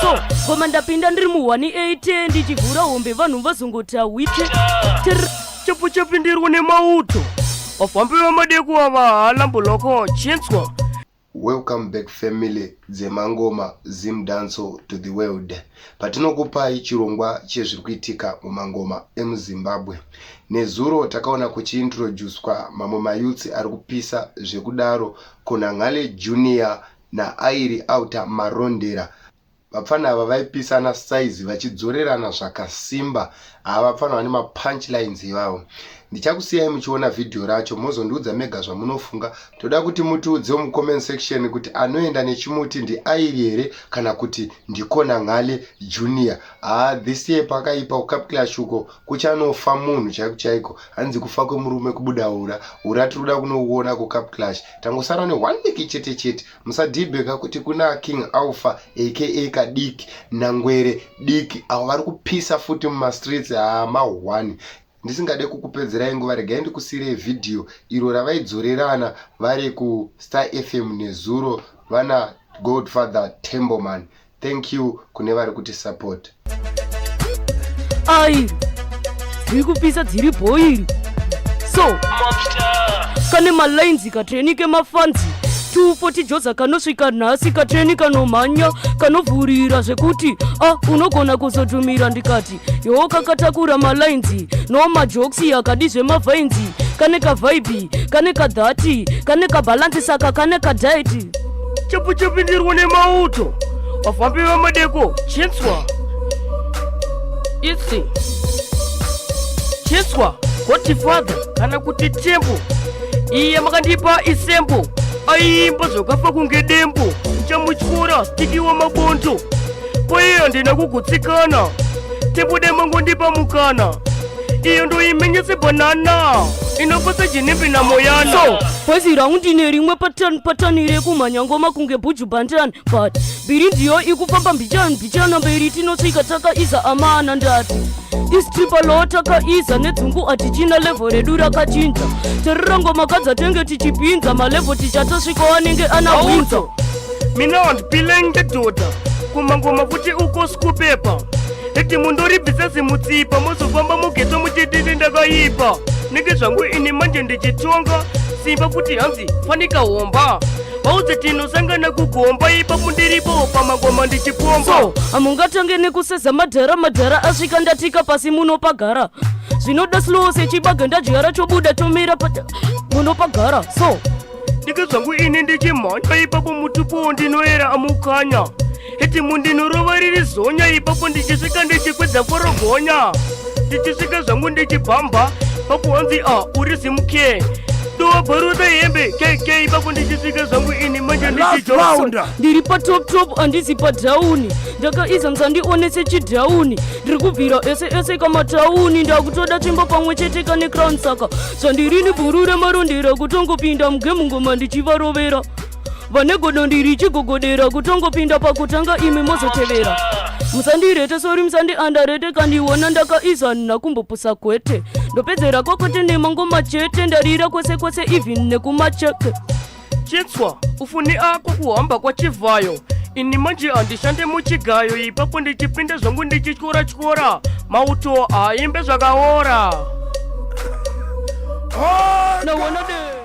so koma ndapinda ndiri mu 180 ndichivhura hombe vanhu vazongoti awite chapo chapindirwa nemauto vafambi vamadeku ava halamboloko chinzwa welcome back family dzemangoma zim danso to the world patinokupai chirongwa chezviri kuitika mumangoma emuzimbabwe nezuro takaona kuchiintroducwa mamwe mayutsi ari kupisa zvekudaro kunanghale junior naAiri Auta Marondera. Vapfana ava vaipisana size vachidzorerana zvakasimba. Haa vapfana vane mapunchlines ivavo. Ndichakusiyai muchiona vhidhiyo racho mozondiudza mega zvamunofunga. Toda kuti mutiudzewo mucomment section kuti anoenda nechimuti ndiAiri here kana kuti ndikona Ngale Junior. Haa this year pakaipa kuCapclash uko kuchanofa munhu chaiko chaiko. Hanzi kufa kwemurume kubuda ura. Ura tiri kuda kunouona kuCapclash. tangosara ne one week chete chete musadhibheka kuti kuna king alpha aka kadiki nangwere diki avo vari kupisa futi mumastreets amahwani ndisingade kukupedzerai nguva regai ndikusiirei vhidhiyo iro ravaidzorerana vari kustar fm nezuro vana godfather temboman Thank you kune vari kuti support. Airi dziri kupisa dziri bhoiri so kane malainzi katreni kemafanzi 240 joza kanosvika nhasi katreni kanomhanya kanovhurira zvekuti a ah, unogona kuzotumira ndikati yoo kakatakura malainzi no majoksi akadi zvemavhainzi kane kavhaibhi kane kadhati kane kabhalansi saka kane kadhaiti chapu chapindirwa nemauto vafambi vemadeko chinswa itsi chinswa gotifather kana kuti tembo iye makandipa isembo aiimba zvakafa kunge dembo chamutyora stikiwa mabonzo kwaiyo ndina kugutsikana tibude mangu ndipa mukana iyo ndoimenyese banana inopasa jinimbi na moyana so bhazi rangu ndine rimwe patani patani rekumhanya ngoma kunge bhuju bandani but mbiri ndiyo ikufamba mbichani mbichana mberi tinosvika takaiza amana ndati istripa lo takaiza nedzungu atichina levho redu rakachinja terera ngoma kadzatenge tichipinza malevho tichatosvika wanenge anahunza mina wandipile ngedhodha kumangoma futi uko sikupepa eti mundoribvisa zimutsipa mozofamba mugeto muchitini ndakaipa nenge zvangu ini manje ndichitonga simba futi hanzi fanika homba vauze tinosangana kugomba ipa mundiripo pamangoma ndichipomba so hamungatange nekuseza madhara madhara asvika ndatika pasi munopagara zvinoda slow sechibaga ndadyara chobuda tomira pata munopagara so ndika zvangu ini ndichimhanya ipapo mutupuwo ndinoera amukanya itimu ndinorova riri zonya ipapo ndichisvika ndichikwedza forogonya ndichisvika zvangu ndichibhambha pakuwanzi a ah, uri zimuke ndowabharota hembe kk ipapo ndichisvika zvangu ini manje ndichijounda ndiri patop top handizi padhauni ndakaiza musandione sechidhauni ndiri kubvira ese ese kamatauni ndakutoda tsvimbo pamwe chete kane crown saka sandirini bhuru remarondera kutongopinda mugemu ngoma ndichivarovera vane godo ndiri chigogodera kutongopinda pakutanga imi mozotevera musandirete sori musandiandarete kandiona ndakaisa nakumbopusa kwete ndopedzera kwakote nemangoma chete ndarira kwese kwese even nekumacheke chitswa ufuni ako kuhamba kwachivhayo ini manje handishande muchigayo ipapo ndichipinde zvangu ndichityora tyora mauto aimbe zvakaora oh,